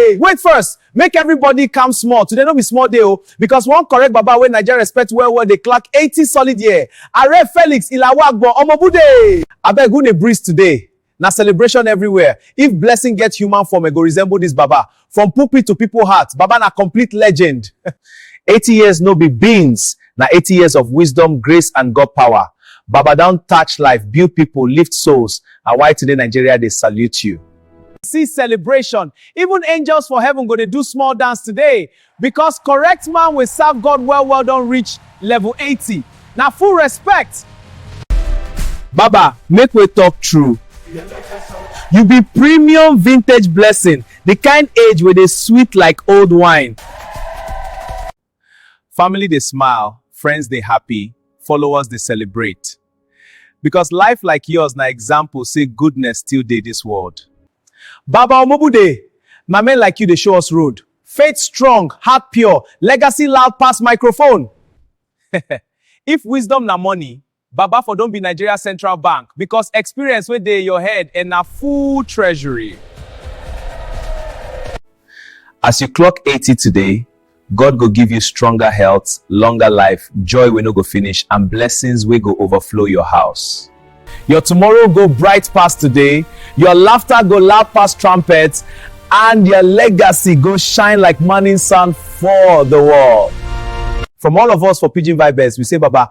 Hey, wait first. Make everybody calm small. Today no be small day o, because one correct baba wey Naija respect well well dey clock 80 solid year. Are Felix Ilawagbo Omobude. Abeg who dey breeze today? Na celebration everywhere. If blessing get human form, e go resemble this baba. From pulpit to people heart, baba na complete legend. 80 years no be beans. Na 80 years of wisdom, grace and God power. Baba don touch life, build people, lift souls. Na why today Nigeria dey salute you. see celebration. Even angels for heaven go dey do small dance today because correct man wey serve God well well don reach level 80. Na full respect. Baba, make we talk true. You be premium vintage blessing, the kind age wey dey sweet like old wine. Family dey smile, friends dey happy, followers dey celebrate. Because life like yours na example say goodness still dey this world. Baba Omobude! Na men like you dey show us road. Faith strong, heart pure, legacy loud pass microphone! If wisdom na money, Baba for don be Nigeria Central Bank because experience wey dey your head and na full treasury. As you clock eighty today, God go give you stronger health, longer life, joy wey no go finish and blessings wey go overflow your house. Your tomorrow go bright pass today, your laughter go loud pass trumpet and your legacy go shine like morning sun for the world. From all of us for Pidgin Vibes, we say Baba